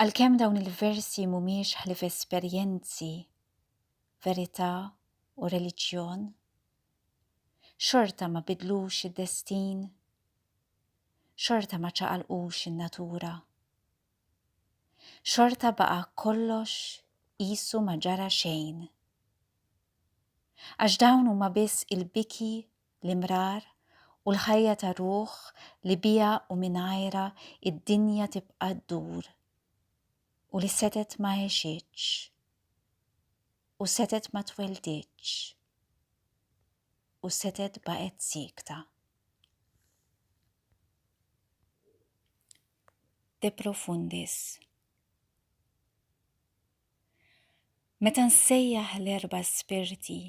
Għalkemm dawn il-versi mhumiex ħlief esperjenzi, verità u reliġjon, xorta ma bidlux id-destin, xorta ma ċaqalqux in-natura. Xorta baqa' kollox qisu ma ġara xejn. Għax dawn huma biss il-biki l-imrar, u l-ħajja ta' ruħ li biha u mingħajrha id-dinja tibqa' ddur, u li setet ma għexitx, u setet ma tweldiċ, u setet baqgħet sikta. De Profundis. Meta nsejjaħ l-erba' spirti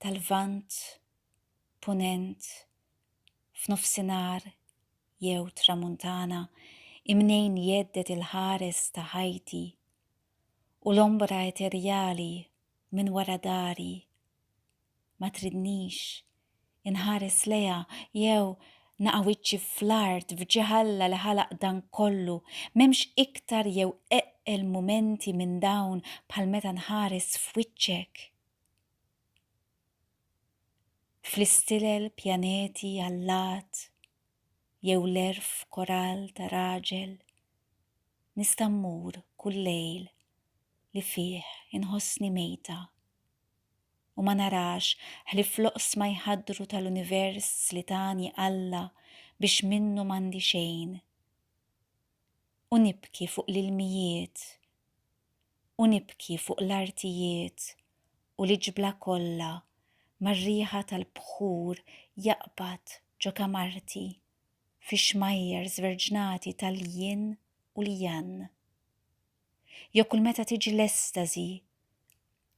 tal-Lvant, Punent, f'Nofsinhar jew Tramuntana imnejn jgħeddet il-ħares ta' ħajti u l-ombra eterjali minn wara dari, ma tridnix inħares lejha jew naqa' wiċċi fl-art f'ġieħ Alla li ħalaq dan kollu, m'hemmx iktar jew eqqel mumenti minn dawn bħal meta nħares f'wiċċek. Fl-istilel pjaneti allat jew l-erf koral ta' raġel nista' mmur kull lejl li fih inħossni mejta. u ma narax ħlief l-oqsma jħaddru tal-univers li tani Alla biex minnu m'għandi xejn. U nibki fuq l-ilmijiet, u nibki fuq l-artijiet u l-iġbla kollha mar-riħa tal-bħur jaqbad ġo kamarti fix-xmajjar żverġnati tal-jinn u l-jann. Jew kull meta tiġi l-estażi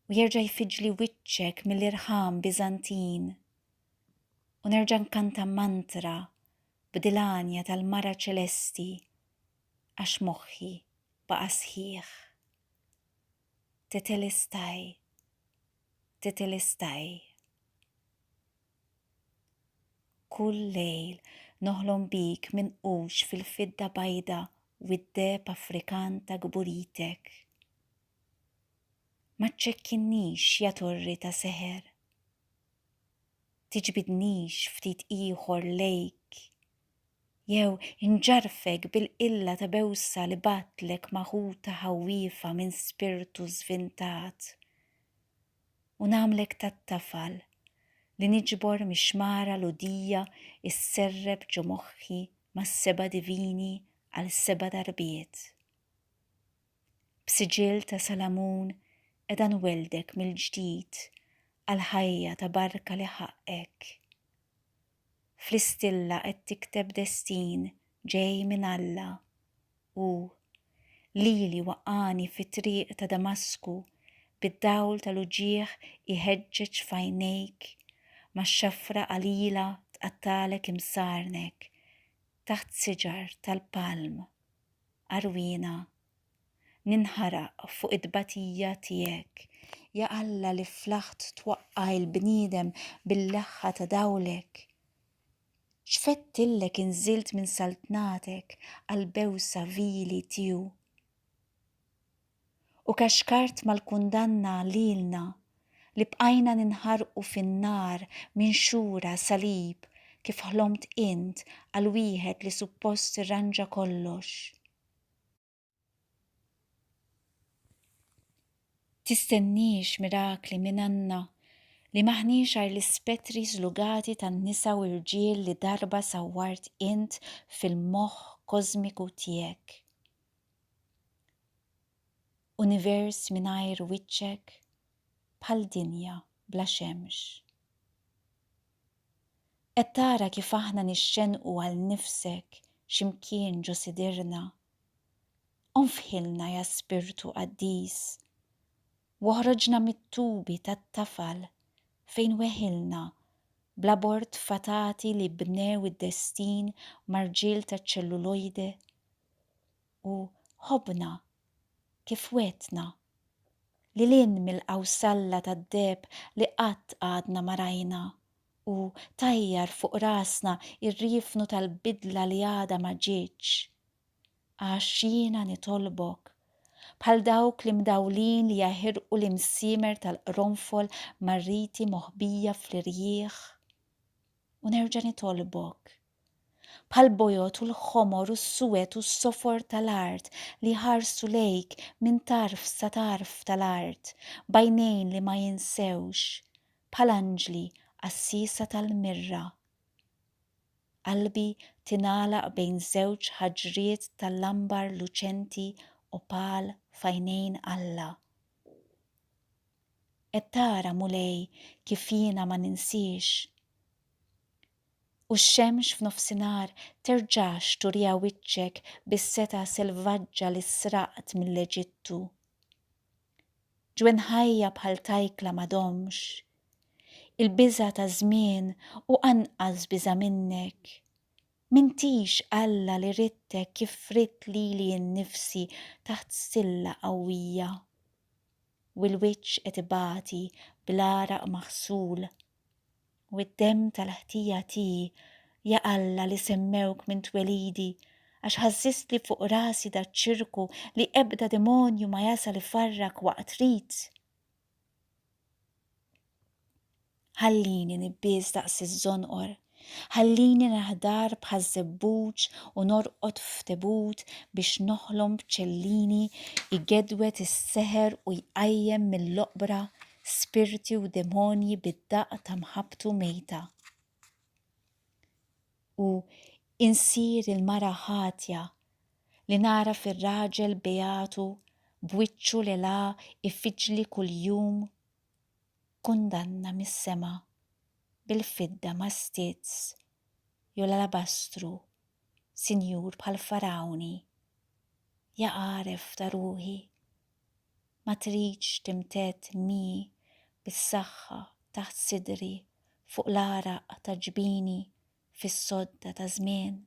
u jerġa' jfiġli wiċċek mill-irħam Biżantin u nerġa' nkanta mantra b'dil-għanja tal-mara ċelesti għax moħħi baqa' sħiħ. Tetelestai, tetelestai. Kull lejl noħlom bik minqux fil-fidda bajda u d-deheb Afrikan ta' kburitek. Ma ċċekkinnix, ja torri ta' seħer. Tiġbidnix ftit ieħor lejk jew inġarrfek bil-qilla ta' bewsa li bagħatlek ma' ħuta ħawwiefa minn spirtu żvintat. u nagħmlek tat-tafal li niġbor mix-xmara l-udija sserrep ġo moħħi mas-seba' divini għal seba' darbiet. B'siġill ta' salamun qiegħda nwelldek mill-ġdid għall-ħajja ta' barka li ħaqqek. Flistilla qed tikteb destin ġej minn Alla. Hu, lili waqqagħni fit-triq ta' Damasku bid-dawl tal-uġigħ iħeġġeġ f'għajnejk, max-xafra qalila tqattagħlek imsarnek, taħt siġar tal-palm, għarwiena Ninħaraq fuq it-tbatija tiegħek, ja Alla li flaħt twaqqa' il-bniedem bil-leħħa ta' dawlek. X'fedtillek inżilt minn saltnatek għall-bewsa vili tiegħu. U kaxkart mal-kundanna lilna li bqajna ninħarqu fin-nar minn xura salib kif ħlomt int għal wieħed li suppost irranġa kollox. Tistenniex mirakli minn għandna li m'aħniex għar l-ispettri żlugati tan-nisa u rġiel li darba sawwart int fil-moħħ kożmiku tiegħek. Univers mingħajr wiċċek bħal dinja bla xemx. Qed tara kif aħna nixxennqu għal nifsek xi mkien ġo sidirna? Onfħilna ja Spirtu Qaddis, w'oħroġna mit-tubi tat-tafal fejn weħilna bl-abort fatati li bnew id-destin mar-rġiel taċ-ċellulojde. u ħobbna kif wegħdtna, lil hinn mill-qawsalla tad-deheb li qatt għadna ma rajna u tajjar fuq rasna r-riefnu tal-bidla li għadha ma ġietx. Għax jiena nitolbok, bħal dawk l-imdawlin li jaħirqu l-imsiemer tal-qronfol mar-riti moħbija fl-irjieħ, u nerġa' nitolbok, bħall-bojod u l-ħomor u s-suwed u s-sofor tal-art li jħarsu lejk minn tarf sa tarf tal-art b'għajnejn li ma jinsewx, bħal anġli qassiesa tal-mirra. Qalbi tingħalaq bejn żewġ ħaġriet tal-ambar luċenti opal f'għajnejn Alla. Qed tara, Mulej, kif jiena ma ninsiex. U x-xemx f'nofsinhar terġax turiha wiċċek bis-setgħa selvaġġa li sraqt mill-Eġittu. Ġwien ħajja bħal tajkla m'għadhomx. Il-biża' ta' żmien u anqas biża' minnek. M'intix Alla li ridtek kif ridt lili nnifsi taħt stilla qawwija. U l-wiċċ qed ibati bl-għaraq maħsul. U d-demm tal-ħtija tiegħi, ja Alla li semmewk minn twelidi, għax ħażżistli fuq rasi daċ-ċirku li ebda demonju ma jasal ifarrak waqt rit. Ħallini nibbies daqs iż-żonqor, ħallini naħdar bħaż-żebbuġ u norqod f'tebut biex noħlom b'ċellini jgedwed is-seħer u jqajjem mill-oqbra spirti u demonji bid-daqq ta' mħabbtu mejta. U insir il-mara ħatja li nara fir-raġel beatu b'wiċċu li la ifiġli kuljum kundanna mis-sema bil-fidda mastiz jew l-alabastru sinjur bħal farawni ja għaref ta' ruħi Ma tridx timtedd mi bis-saħħa taħt sidri fuq l-għaraq ta' ġbini fis-sodda ta' żmien.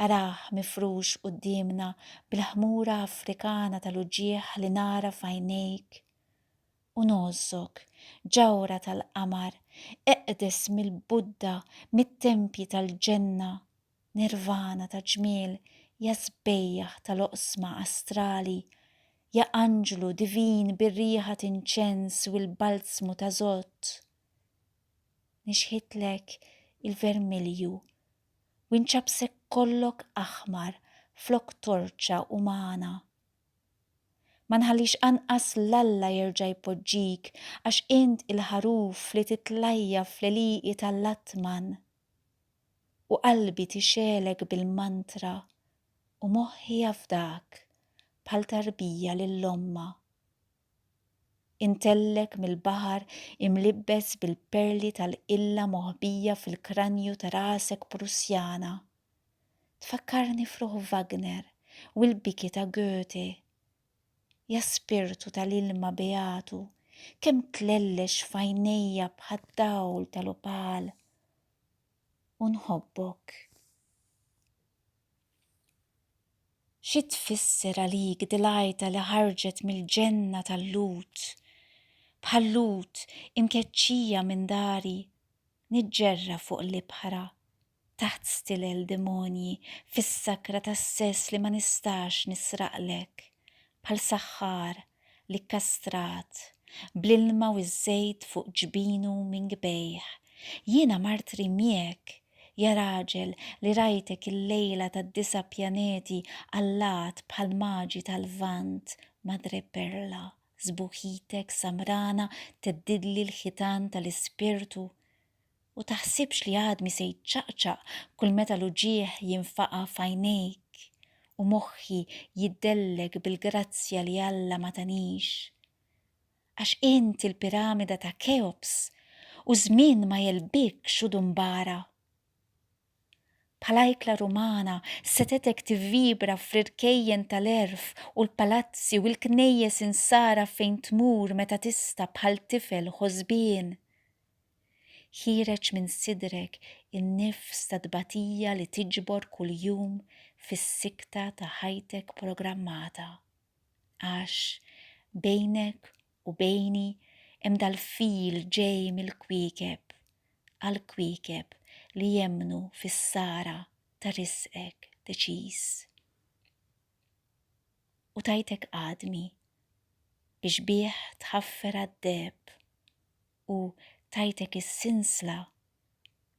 Arah mifrux quddiemna bil-ħmura Afrikana tal-uġigħ li nara f'għajnejk u ngħożżok, ġawhra tal-qamar, eqdes mill-Buddha, mit-tempji tal-ġenna Nirvana ta' ġmiel, ja sbejjaħ tal-oqsma astrali, ja anġlu divin bir-riħa t'inċens u l-balzmu ta' żott, nixħitlek il-vermilju u nċappsek kollok aħmar flok torċa umana. Ma nħallix anqas l-Alla jerġa' jpoġġik għax int il-ħaruf li titlajja fl-għelieqi tal-Atman. u qalbi tixgħelek bil-mantra u moħħi jafdak bħal tarbija lil ommha. Intellek mill-baħar imlibbes bil-perli tal-qilla moħbija fil-kranju ta' rasek Prussjana. Tfakkarni f'ruħ Wagner u l-biki ta' Goethe. Ja spirtu tal-ilma beatu, kemm tlellex f'għajnejja bħad-dawl tal-opal. u nħobbok. Xi tfisser għalik dilajta li ħarġet mill-ġenna tal-Lut? Bħal Lut imkeċċija minn dari, niġġerra fuq l-ibħra, taħt stilel demonji, fis-sakra tas-sess li ma nistax nisraqlek, bħal saħħar li kkastrat, bl-ilma u ż-żejt fuq ġbinu minn kbejh, jiena mart rimjek, ja raġel li rajtek il-lejla tad-disa' pjaneti allat bħal maġi tal-Lvant, madreperla, sbuħitek samrana theddidli l-ħitan tal-ispirtu, U taħsibx li għadmi se jċaqċaq kull meta l-uġigħ jinfaqa' f'għajnejk u moħħi jiddellek bil-grazzja li Alla ma tanix. Għax int il-piramida ta' Keops u ż-żmien ma jegħlbikx u dumbara. Bħala ikla Rumana, setgħetek tivvibra fl-irkejjen tal-għerf u l-palazzi u l-knejjes insara fejn tmur meta tista' bħal tifel ħosbien. Ħiereġ minn sidrek in-nifs ta' tbatija li tiġbor kuljum fis-sikta ta' ħajtek programmata. Għax bejnek U bejni hemm dal-fil ġej mill-kwiekeb għall-kwiekeb li jemmnu fis-sara ta' riżqek deċiż. U tajtek għadmi biex bih tħaffer għad-deheb u tajtek is-sinsla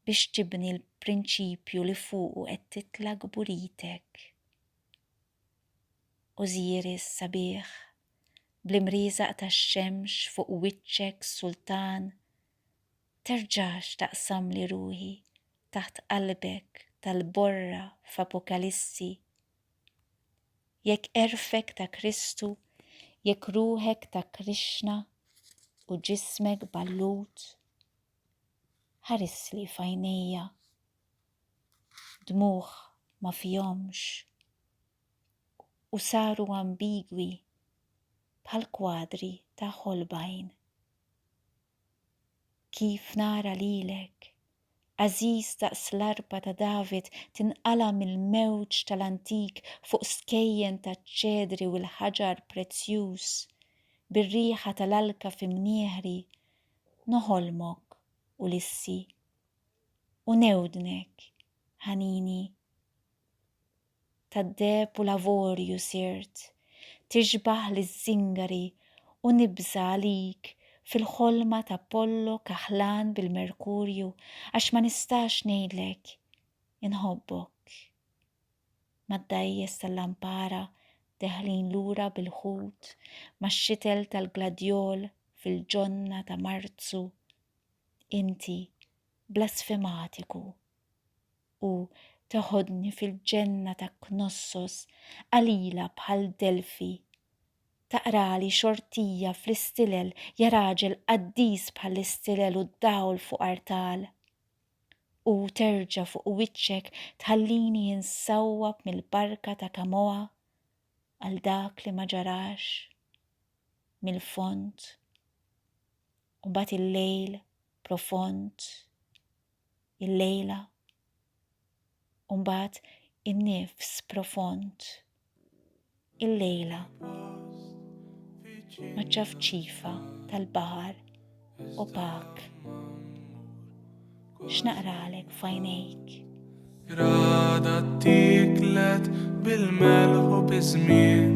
biex tibni l-prinċipju li fuqu qed titla' kburitek. Ożiris sabiħ bl-imrieżaq tax-xemx fuq wiċċek sultan terġax taqsamli ruħi taħt qalbek tal-borra f'Apokalissi jekk għerfek ta' Kristu jekk ruħek ta' Krixna u ġismek ballut ħarisli f'għajnejja dmugħ ma fihomx u saru ambigwi bħal kwadri ta' Holbein. Kif nara lilek, għażiż daqs l-arpa ta' David tinqala' mill-mewġ tal-antik fuq skejjen taċ-ċedri u l-ħaġar prezzjuż, bir-riħa tal-alka fi mnieħri, noħolmok, Ulissi, u newdnek, ħanini. tad-deheb u l-avorju sirt tixbah liż-żingari u nibża' għalik fil-ħolma t'Apollo kaħlan bil-Merkurju għax ma nistax ngħidlek inħobbok. Mad-dgħajjes tal-lampara deħlin lura bil-ħut max-xitel tal-gladjol fil-ġonna ta' Marzu inti blasfematiku. u teħodni fil-ġenna ta' Knossos qalila bħal Delfi. Taqrali xortija fl-istilel ja raġel qaddis bħall-istilel u d-dawl fuq artal. U terġa' fuq wiċċek tħallini insawwab mill-barka ta' Kamoa għal dak li ma ġarax mill-fond u bat il-lejl profond. il-lejla, u mbagħad in-nifs profond, il-lejla, maċ-ċafċifa tal-baħar opak. X'naqralek fajnejk? Rada tiklet bil-melħu biż-żmien